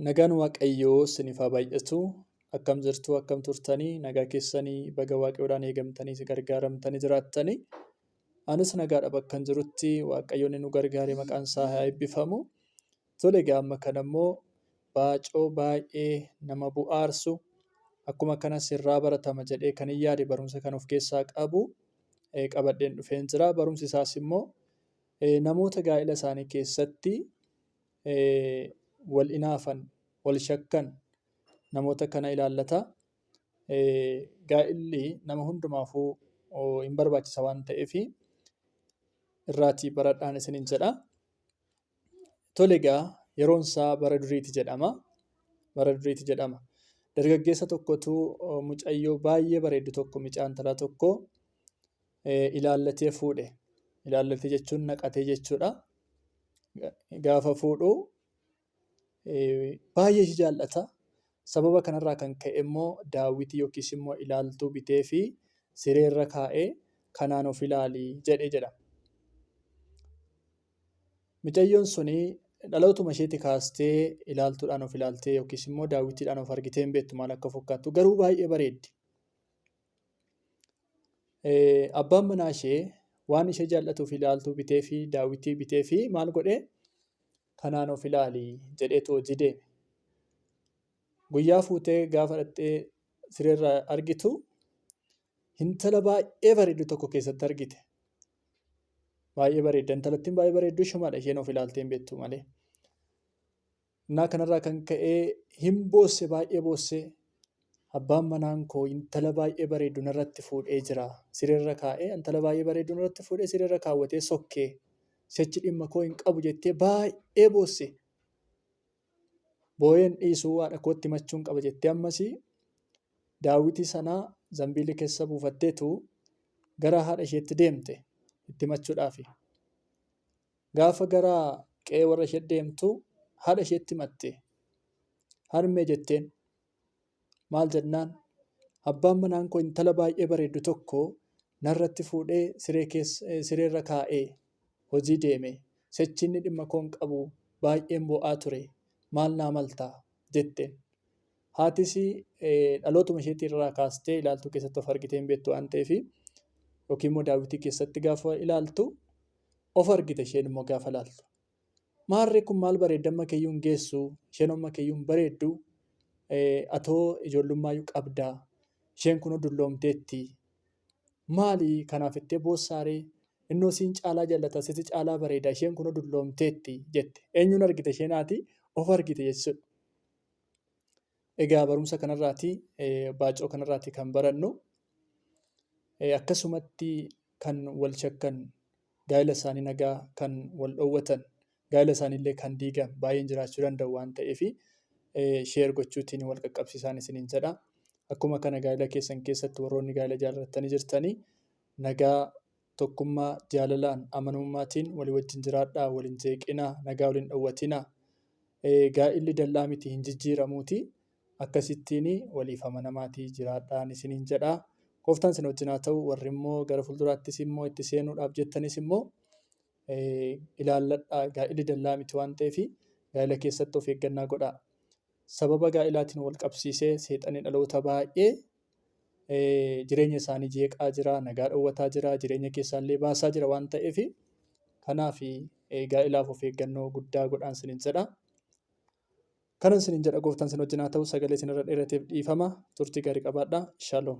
Nagaan waaqayyoo sinif haa baay'atu akkam jirtuu akkam turtanii nagaa keessanii baga waaqayyoodhaan eegamtanii si gargaaramtanii jiraattanii anis nagaadha bakkan jirutti waaqayyoonni nu gargaaree maqaan isaa haa eebbifamu tole egaa amma kana immoo baacoo baay'ee nama bu'aarsu akkuma kana sirraa baratama jedhee kan hin yaade barumsa kan of keessaa qabu qabadheen dhufeen jira barumsi isaas immoo namoota gaa'ila isaanii keessatti wal inaafan, wal shakkan namoota kana ilaallata. Gaa'illi nama hundumaafuu hin barbaachisa waan ta'eef irraatii baradhaan isiniin jedha. Tole egaa yeroon isaa bara duriiti jedhama. Bara duriiti jedhama. Dargaggeessa tokkotu mucayyoo baay'ee bareeddu tokko mucaa intalaa tokko ilaallatee fuudhe. Ilaallatee jechuun naqatee jechuudha. Gaafa fuudhu baay'ee ishii jaallata. Sababa kanarraa kan ka'e immoo daawwitii yookiis immoo ilaaltuu biteefi sireerra kaa'ee kanaan of ilaali jedhe jedha. Micayyoon suni dhalootuma isheetii kaastee ilaaltuudhaan of ilaaltee yookiis immoo daawwitiidhaan of argitee hin beektu maal akka fakkaattu garuu baay'ee bareeddi. Abbaan manaa ishee waan ishee jaallatuuf ilaaltuu bitee fi daawwitii bitee fi maal godhee kanaan of ilaali jedheetu hojii deeme. Guyyaa fuutee gaafa dhaqxee sireerra argitu intala baay'ee bareeddu tokko keessatti argite. Baay'ee bareedda intalattiin baay'ee bareeddu ishumadha isheen of ilaaltee hin beektu malee. Innaa kanarraa kan ka'e hin boosse baay'ee boosse. Abbaan manaan koo intala baay'ee bareeddu narratti fuudhee jira. Sireerra kaa'ee intala baay'ee bareeddu narratti fuudhee sireerra kaawwatee sokke. Sichi dhimma koo hin qabu jettee baay'ee boosse. Booyeen dhiisuu haadha kootti himachuun qaba jettee ammas daawwitii sana zambiilii keessa buufatteetu gara haadha isheetti deemte itti himachuudhaafi. Gaafa gara qe'ee warra ishee deemtu haadha isheetti himatte. Harmee jetteen. Maal jennaan abbaan manaan koo intala baay'ee bareeddu tokko narratti fuudhee siree keessa sireerra kaa'ee hojii deeme. Sichi inni dhimma koo hin qabu baay'een boo'aa ture. Maal naa malta? jetteen. Haatis dhalootuma isheetii irraa kaastee ilaaltuu keessatti of argitee hin beektu waan ta'eef yookiin immoo daawwitii keessatti gaafa ilaaltu Of argita isheen immoo gaafa laaltu. Maarree kun maal bareedda amma keeyyuu hin geessu isheen amma keeyyuu hin bareeddu atoo ijoollummaayyuu qabda isheen kunoo dulloomteetti maali kanaaf ittee boossaaree innoo siin caalaa jallata siti caalaa bareeda isheen kunoo dulloomteetti jette eenyuun argite isheen haati of argite jechuudha. Egaa barumsa kanarraati baacoo kanarraati kan barannu akkasumatti kan wal shakkan gaa'ila isaanii nagaa kan wal dhoowwatan gaa'ila isaaniillee kan diigan baay'een jiraachuu danda'u waan ta'eef sheer gochuutiin wal qaqqabsiisaan isiniin jedha. Akkuma kana gaa'ila keessan keessatti warroonni gaa'ila jaallatanii jirtanii nagaa Tokkummaa, jaalalaan, amanummaatiin walii wajjin jiraadhaa, wal hin jeeqinaa, nagaa wal hin dhowwatinaa. Ee, gaa'illi dallaa miti, hin jijjiiramuuti. Akkasittiin waliif amanamaatii jiraadhaan isiniin jedha. Gooftaan isin wajjin haa ta'u, warri immoo gara fuulduraattis immoo itti seenuudhaaf jettanis immoo ee, ilaalladhaa, gaa'illi dallaa miti waan ta'eef gaa'ila keessatti of eeggannaa godhaa. Sababa gaa'ilaatiin wal qabsiisee seexanni dhaloota baay'ee jireenya isaanii jeeqaa jira, nagaa dhowwataa jira, jireenya keessaa illee baasaa jira waan ta'eef, kanaaf gaa'elaaf of eeggannoo guddaa godhaa isiniin jedha. Kanan isiniin jedha gooftaan isin wajjin haa ta'u. Sagalee isinirra dheerateef dhiifama. Turtii gaarii qabaadhaa. Shalom.